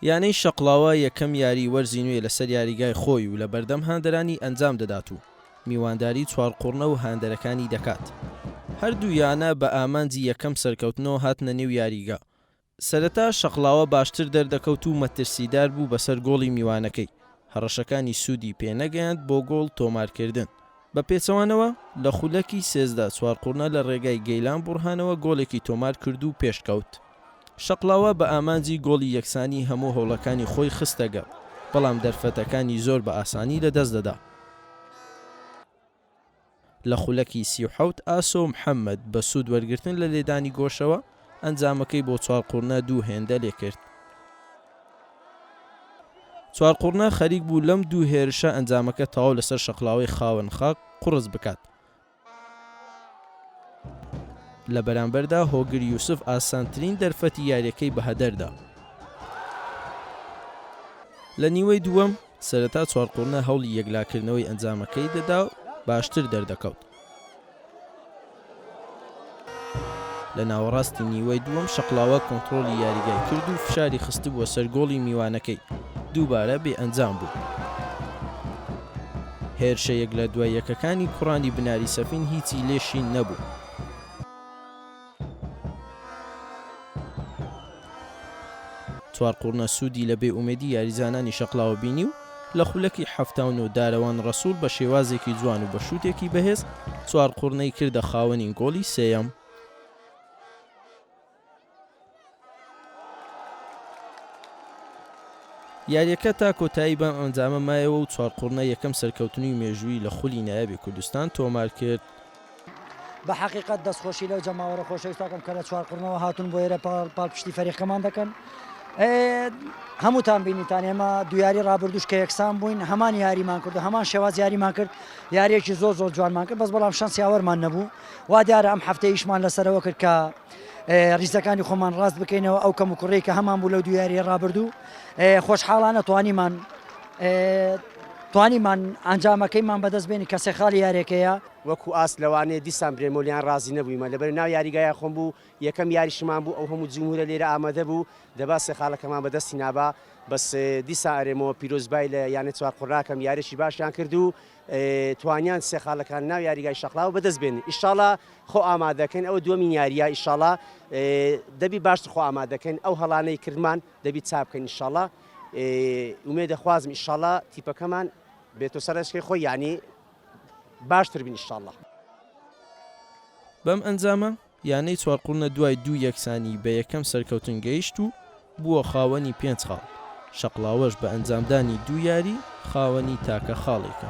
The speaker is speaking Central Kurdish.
یانەی شەقڵاوە یەکەم یاریی وەرزی نوێی لەسەر یاریگای خۆی و لەبەردەم هاندەرانی ئەنجام دەدات و میوانداری چوارقوڕنە و هاندەرەکانی دەکات. هەردوو یانە بە ئامانجی یەکەم سەرکەوتنەوە هاتنە نێو یاریگا. سەرەتا شەقڵاوە باشتر دەردەکەوت و مەترسیدار بوو بەسەر گۆڵی میوانەکەی، هەڕەشەکانی سوودی پێنەگەیاند بۆ گۆڵ تۆمارکردن، بە پێچەوانەوە، لە خولەکی سێزدە چوارقوڕنە لە رێگای گەیلان بوڕهانەوە گۆڵێکی تۆمارکرد و پێشکەوت. شەقڵاوە بە ئامانجی گۆڵی یەکسانی هەموو هەوڵەکانی خۆی خستەگەڕ، بەڵام دەرفەتەکانی زۆر بە ئاسانی لەدەست دەدا. لە خولەکی سی و حەوت ئاسۆ محەمەد بە سوود وەرگرتن لە لێدانی گۆشەوە، ئەنجامەکەی بۆ چوارقوڕنە دوو هێندە لێکرد. چوارقوڕنە خەریک بوو لەم دوو هێرشە ئەنجامەکە تەواو لەسەر شەقڵاوەی خاوەن خاک قوڕس بکات. لە بەرامبەردا هۆگر یوسف ئاسانترین دەرفەتی یارییەکەی بەهەدەر دا. لە نیوەی دووەم سەرەتا چوارقوڕنە هەوڵی یەکلاکردنەوەی ئەنجامەکەی دەدا و باشتر دەردەکەوت. لە ناوەڕاستی نیوەی دووەم شەقڵاوە کۆنتڕۆڵی یاریگای کرد و فشاری خستبووە سەر گۆڵی میوانەکەی، دووبارە بێ ئەنجام بوو. هێرشە یەک لە دوای یەکەکانی کوڕانی بناری سەفین هیچی لێ شین نەبوو. چوار قوڕنە سوودی لە بێ ئومێدی یاریزانانی شەقڵاوە بینی و لە خولەکی حەفتا و نۆ دارەوان ڕەسوڵ بە شێوازێکی جوان و بە شووتێکی بەهێز چوار قوڕنەی کردە خاوەنی گۆڵی سێیەم. یارییەکە تا کۆتایی بەم ئەنجامە مایەوە و چوار قوڕنە یەکەم سەرکەوتنی مێژوویی لە خولی نایابی کوردستان تۆمار کرد. بە حەقیقەت دەستخۆشی لەو جەماوەرە خۆشەویستە ئەکەم کە لە چوار قوڕنەوە هاتوون بۆ ئێرە پاڵپشتی فەریقەمان دەکەن. هەمووتان بینیتان ئێمە دوو یاری ڕابردووش کە یەکسان بووین هەمان یاریمان کرد و هەمان شێواز یاریمان کرد یاریەکی زۆر زۆر جوانمان کرد بەس بەڵام شەنسیاوەرمان نەبوو وا دیارە ئەم هەفتەیشمان لەسەرەوە کرد کە ریزەکانی خۆمان ڕاست بکەینەوە ئەو کەموکوڕی کە هەمان بوو لەو دو یاریە ڕابردوو خۆشحاڵانە توانیمان توانیمان ئەنجامەکەیمان بەدەست بێنی کە سێخاڵی یارێکەیە وەکو ئاست لەوانەیە دیسان برێمۆلیان ڕازی نەبوویمە لەبەر ناو یاریگایە خۆم بوو یەکەم یاریشمان بوو ئەو هەموو جمهورە لێرە ئامادە بوو دەبا سێخاڵەکەمان بەدەستی نابا بەس دیسا ئەرێمەوە پیرۆزبای لە یانە چوار قڕاکەم یاریی باشیان کرد و توانیان سێ خاڵەکان ناو یاریگای شەقڵاوە بەدەست بێنن ئیشاڵا خۆ ئامادەکەن ئەوە دووەمین یاریە ئیشاڵا دەبی باشتر خۆ ئامادەکەن ئەو هەڵانەی کردمان دەبی چا بکەن ئیشاڵا ئومێ دەخوازم ئیشاڵا تیپەکەمان بێتۆ سەرشکی خۆی یعنی باشتر بین ئیشاڵا بەم ئەنجامە یانەی چوارقوڕنە دوای دوو یەکسانیی بە یەکەم سەرکەوتن گەیشت و بووە خاوەنی پێنج خاڵ، شەقڵاوەش بە ئەنجامدانی دوو یاریی خاوەنی تاکە خاڵێکە.